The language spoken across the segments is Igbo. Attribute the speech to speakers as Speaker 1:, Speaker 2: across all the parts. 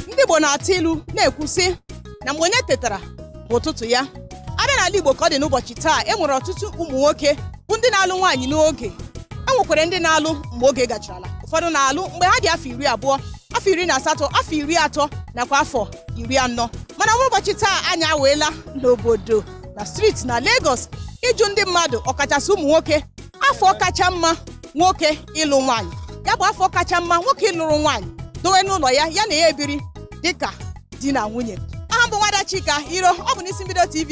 Speaker 1: ndị Igbo na-atụ ilu na-ekwu sị na mgbe onye tetara bụ ụtụtụ ya a bịa n'ala Igbo ka ọ dị n'ụbọchị taa e nwere ọtụtụ ụmụ nwoke bụ ndị na-alụ nwaanyị n'oge e nwekwara ndị na-alụ mgbe oge gacharala ụfọdụ na-alụ mgbe ha dị afọ iri abụọ afọ iri na asatọ afọ iri atọ nakwa afọ iri anọ mana ụbọchị taa anyị awaala n'obodo na street na Lagos ịjụ ndị mmadụ ọkachasị ụmụ nwoke afọ kacha mma nwoke ịlụ nwaanyị ya bụ afọ kacha mma nwoke ịlụrụ nwaanyị dowe n'ụlọ ya ya na ya ebiri dịka di na nwunye aha m bụ nwada Chika Iro ọ bụ n'Isimbido TV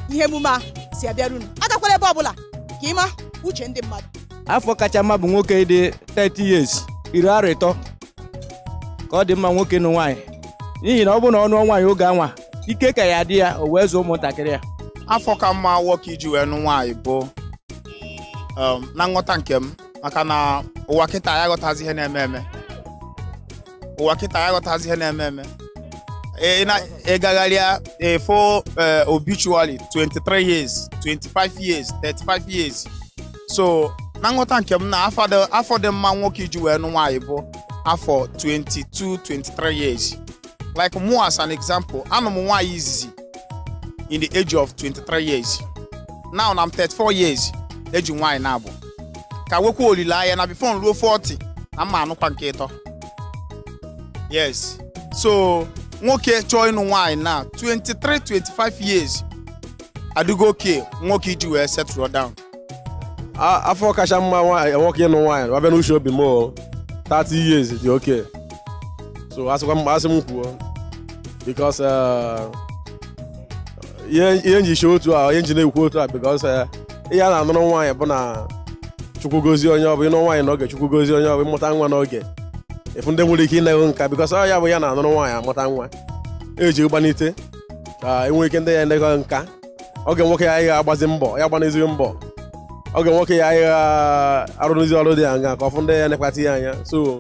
Speaker 1: ihe emume a si abịara unu agakwala ebe ọbụla ka ị ma uche ndị mmadụ afọ kacha mma
Speaker 2: bụ nwoke dị 30 years iri arọ ịtọ ka ọ dị mma nwoke ịnụ nwaanyị n'ihi na ọ bụrụ na ọ nụọ nwaanyị oge anwa ike ka ya-adị ya o wee zụọ ụmụntakịrị ya afọ ka mma
Speaker 3: nwoke iji wee nụ nwaanyị bụ um, na nghọta nke m maka na ụwa kịta ya ghọtazi ihe na-eme eme ụwa kịta ya ghọtazi ihe na-eme eme Ị- ị na- ị gagharịa ị fụ obituary 23 years 25 years 35 years so na nghọta nke m na afọ dị- afọ dị mma nwoke iji wee nụ nwaanyị bụ afọ 22 23 years like mụ as an example anụ m nwaanyị izizi in the age of 23 years now na m 34 years eji nwaanyị naabọ ka nwekwa olileanya na before m ruo 40 na m ma-anụkwa nke ịtọ yes so nwoke chọọ ịnụ nwaanyị na 23 25 years adịgo okay nwoke iji wee settle down
Speaker 4: A- afọ kacha mma nwaanyị nwoke ịnụ nwaanyị a bịa n'uche obi m o 30 years dị okay so asịkwa m asị m kwuo because eh, ihe ihe m ji chee otu a ihe m ji na-ekwu otu a because eh, ihe a na-anụrụ nwaanyị bụ na Chukwu gozie onye ọ bụ ịnụ nwaanyị n'oge Chukwu gozie onye ọ bụ ịmụta nwa n'oge ị fụ ndị nwere ike ịne gị nka because ọ ya bụ ihe a na-anụrụ nwaanyị amụta nwa eji gbanite ka e nwee ike ndị ya-ene gị nka oge nwoke ya anyị agbazi mbọ ya gbanezighi mbọ oge nwoke ya anyị arụrụzi ọrụ dị anya ka ọ fụ ndị ya-enekọta ya anya so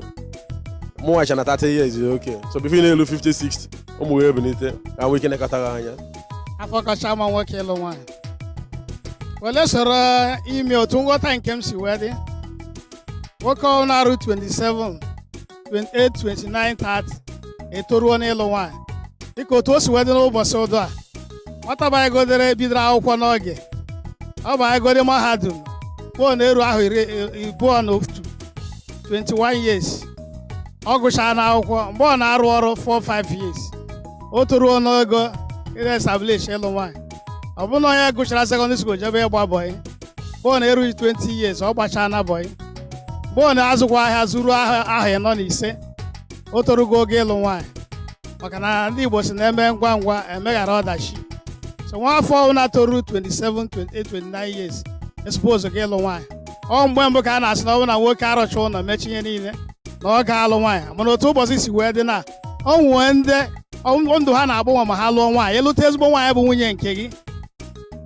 Speaker 4: mụnwa chee na 30 years is okay so before ị na-elu 50 60 ụmụ wee bilite ka nwee ike nekọta ha anya afọ kacha
Speaker 5: mma nwoke ịlụ nwaanyị wele soro ime otu nghọta nke m si wee dị nwoke ọ na-eru 27 28 29 30 etoruo n'ịlụ nwaanyị dịka otu o si wee dị n'ụbọchị ụdụ a nwata banyegodere bidoro akwụkwọ n'oge ọ banyegode mahadum pụọ na-eru ahọ iri abụọ na otu 21 years ọ gụchaana akwụkwọ mgbe ọ na-arụ ọrụ 4 5 years o toruo n'ogo ị establish ịlụ nwaanyị ọ bụrụ na onye gụchara secondary school jebe ịgba bọị mgbe ọ na-erughị 20 years ọ gbachaana bọị mgbe ọ na-azụkwa ahịa zuru ahọ ịnọ na ise o torugo oge ịlụ nwaanyị maka na ndị Igbo sị na eme ngwa ngwa emeghara ọdachi so nwa afọ ọbụla toru 27 28 29 years esupposego ịlụ nwaanyị ọ mgbe mbụ ka a na-asị na ọ bụ na nwoke arụcha ụlọ mechaa ihe niile na ọ ga-alụ nwaanyị mana otu ụbọchị si wee dị na o nwee ndị ọ- ndụ ha na-agbanwe ma ha lụọ nwaanyị ịlụta ezigbo nwaanyị bụ nwunye nke gị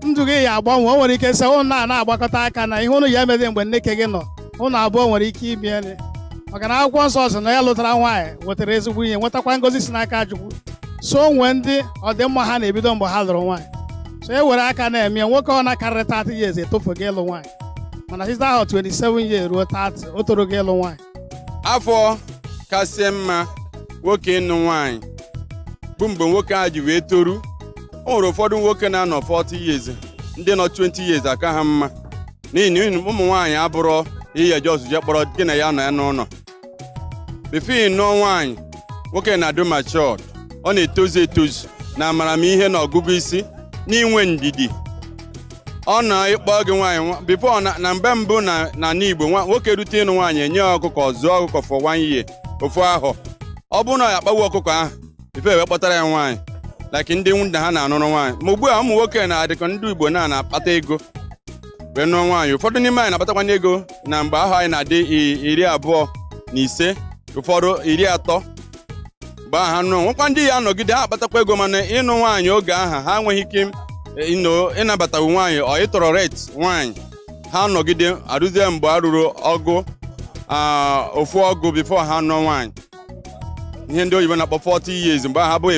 Speaker 5: ndụ gị ya agbanwe o nwere ike sị ụnụ na na-agbakọta aka na ihe ụnụ ya emeli mgbe nne ke gị nọ ụnụ abụọ nwere ike imeli maka na akwụkwọ nsọ sị na onye lụtara nwaanyị nwetara ezigbo ihe nwetakwa ngọzi si n'aka Chukwu so o nwee ndị ọdịmma ha na-ebido mgbe ha lụrụ nwaanyị so e were aka na-eme ya, nwoke ọbụla karịrị 30 years etofego ịlụ nwaanyị mana site ahọ 27 years ruo 30 o torugo ịlụ nwaanyị
Speaker 6: afọ kasị mma nwoke ịnụ nwaanyị bụ mgbe nwoke a ji wee toru o nwere ụfọdụ nwoke na-anọ 40 years ndị nọ 20 years aka ha mma n'ihi na ụmụ nwaanyị abụrọ ihe just je kpọrọ gị na ya anọ n'ụnọ before ị nụọ nwaanyị nwoke na-adị matured ọ na-etozu etozu na amamihe na ọgụgụ isi n'inwe ndidi ọ na ịkpọ gị nwaanyị nwa- before na na mgbe mbụ na na ala Igbo nwa- nwoke rute ịnụ nwaanyị enye ya ọkụkọ ọ zụọ ọkụkọ for one year ofu ahọ ọ bụrụ na ọ ya akpawu ọkụkọ ahụ before e wee kpọtara ya nwaanyị like ndị nna ha na-anụrụ nwaanyị ma ugbu a ụmụ nwoke na dịka ndị Igbo na na-akpata ego wee nụọ nwaanyị ụfọdụ n'ime anyị na-akpatakwana ego na mgbe ahọ anyị na-adị i- iri abụọ na ise ụfọdụ iri atọ mgbe ahụ ha nụọ nwekwa ndị ya anọgide ha akpatakwa ego mana ịnụ nwaanyị oge aha ha enweghị ike eh, ịnọ ịnabatawu nwaanyị ọ ịtolerate nwaanyị ha nọgide eruzie mgbe ha ruru ọgụ ah, ofu ọgụ before ha nụọ nwaanyị ihe ndị oyibo na-akpọ 40 years mgbe ha bụ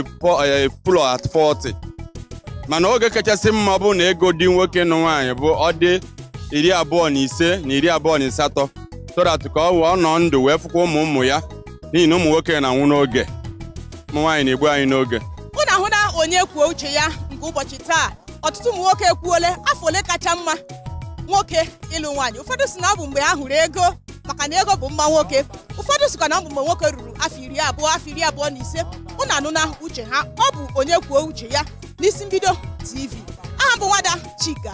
Speaker 6: fool at 40 mana oge kachasị mma ọ bụrụ na ego dị nwoke ịnụ nwaanyị bụ ọ dị iri abụọ na ise na iri abụọ na asatọ so that ka ọ wee ọ nọ ndụ wee fụkwa ụmụ ụmụ ya n'ihi na ụmụ nwoke na-anwụ n'oge ụmụ nwaanyị na-egbu anyị n'oge unu ahụna
Speaker 1: onye kwuo uche ya nke ụbọchị taa ọtụtụ ụmụ nwoke ekwuole afọ ole kacha mma nwoke ịlụ nwaanyị ụfọdụ sị na ọ bụ mgbe ha hụrụ ego maka na ego bụ mma nwoke ụfọdụ sịkwa na ọ bụ mgbe nwoke ruru afọ iri abụọ afọ iri abụọ na ise unu anụna uche ha ọ bụ onye kwuo uche ya n'Isi Mbido TV aha m bụ nwada Chika